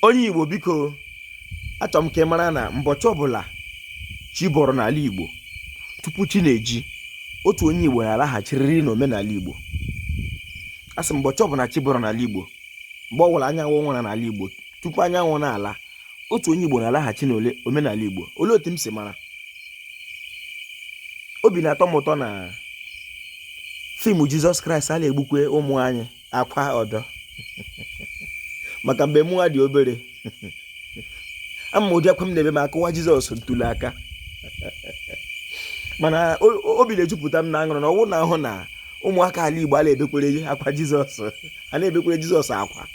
onye igbo biko achọrọ m ka ị mara na mbọchị ọbụla chi bọrọ n'ala igbo tupu chi na-eji otu onye igbo na-alaghachirịrị n'omenala igbo a sị mbọchị ọbụla chi bọrọ n'ala igbo mgbe ọbụla anyanwụ wara n'ala igbo tupu anyanwụ na-ala otu onye Igbo na-alaghachi n'ole omenala Igbo olee otu m si mara obi na-atọ m ụtọ na fim Jizọs Kraịst a na-egbukwe ụmụ anyị akwa ọdọ maka mgbe mụwa dị obere ama m ụdị akwa m na-ebe ma a kụwa Jizọs ntu n'aka mana obi na-ejupụta m n'aṅụrị na ọ wụ na ahụ na ụmụaka ala Igbo a na-ebekwere akwa Jizọs a na-ebekwara jizọs akwa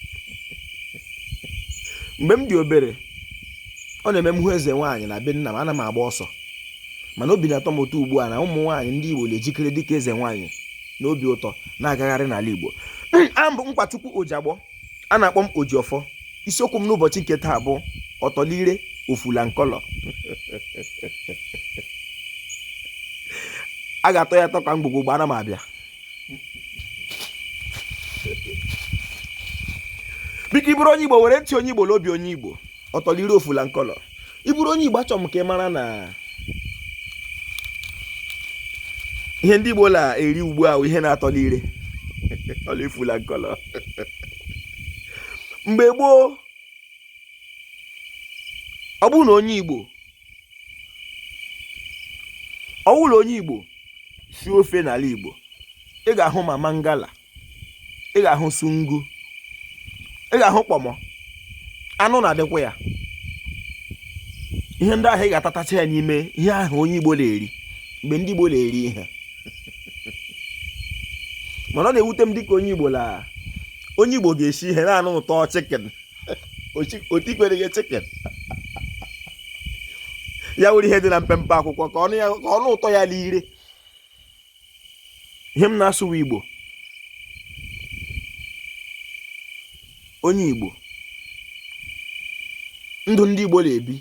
mgbe m dị obere ọ na-eme m hụ eze nwaanyị na be nna m ana m agba ọsọ mana obi na-atọ m ụtọ ugbu a na ụmụ nwaanyị ndị igbo na-ejikere dịka eze nwaanyị n'obi ụtọ na-agagharị n'ala igbo abụ m nkwachukwu ojiagbọ a na-akpọ m ojiọfọ isiokwu m n'ụbọchị nke taa bụ ọtọ n'ire ofu na nkọlọ a ga-atọ ya atọ ka mgbọrọgwụ ana m abịa biko ị bụrụ onye igbo were ntị onye igbo na obi onye igbo ọtọ n'ire ofu na nkọlọ ị bụrụ onye igbo achọrọ m ka ị mara na ihe ndị igbo na-eri ugbu a ihe na-atọ n'ire ọ na-efu na nkọlọ mgbe gboo ọ bụrụ na onye igbo ọ bụrụ na onye igbo sie ofe n'ala igbo ị ga-ahụ ma mangala ị ga-ahụ sungu ị ga-ahụ kpọmọ anụ na-adịkwa ya ihe ndị ahụ ị ga-atatacha ya n'ime ihe ahụ onye igbo na-eri mgbe ndị igbo na-eri ihe mana ọ na-ewute m dịka onye igbo na onye igbo ga-esi ihe na-anụ ụtọ chikin o tikweregị chikin ya wụrụ ihe dị na mpempe akwụkwọ ka ọ nụ ụtọ ya n'ire ihe m na-asụwa igbo onye igbo ndụ ndị igbo na-ebi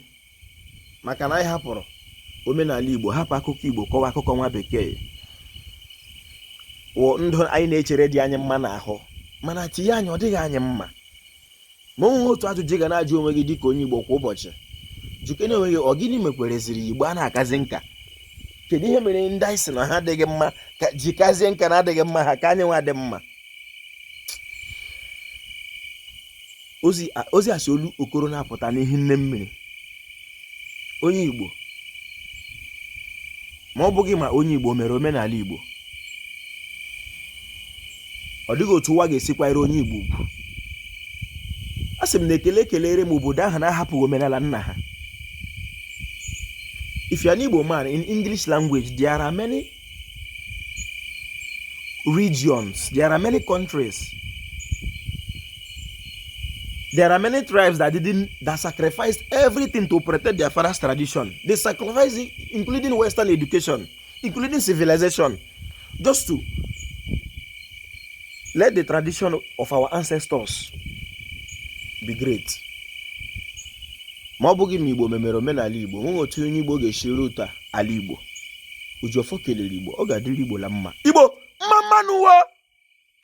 maka na anyị hapụrụ omenala igbo hapụ akụkọ igbo kọwa akụkọ nwa bekee wụ ndụ anyị na-echere dị anyị mma n'ahụ mana tinye anyị ọ dịghị anyị mma ma o nwere otu ajụjụ ị ga na-ajụ onwe gị dịka onye igbo kwa ụbọchị jụkene onwe gị ọ gịnị mekwereziri igbo a na-akazị nka kedu ihe mere ndị anyị si na ha adịghị mma ka ji kazie nka na adịghị mma ha ka anyị nwa dị mma ozi a si olu okoro na-apụta n'ihi nne mmiri onye igbo ma ọ bụghị ma onye igbo mere omenala igbo ọ dịghị otu ụwa ga-esi kwanyere onye igbo ugwu asị m na ekele ekelere m obodo ahụ na-ahapụghị omenala nna ha if you are an igbo man in english language there are many regions. There are many countries. There are many tribes that didn't that sacrificed everything to protect their father's tradition. They sacrificed it, including Western education, including civilization, just to let the tradition of our ancestors be great. ma ọ bụghị na Igbo memere omenala Igbo nweghị otu onye Igbo ga-esi rute ala Igbo oji ọfọ kelere igbo ọ ga-adịrị igbo la mma igbo mma mma nụ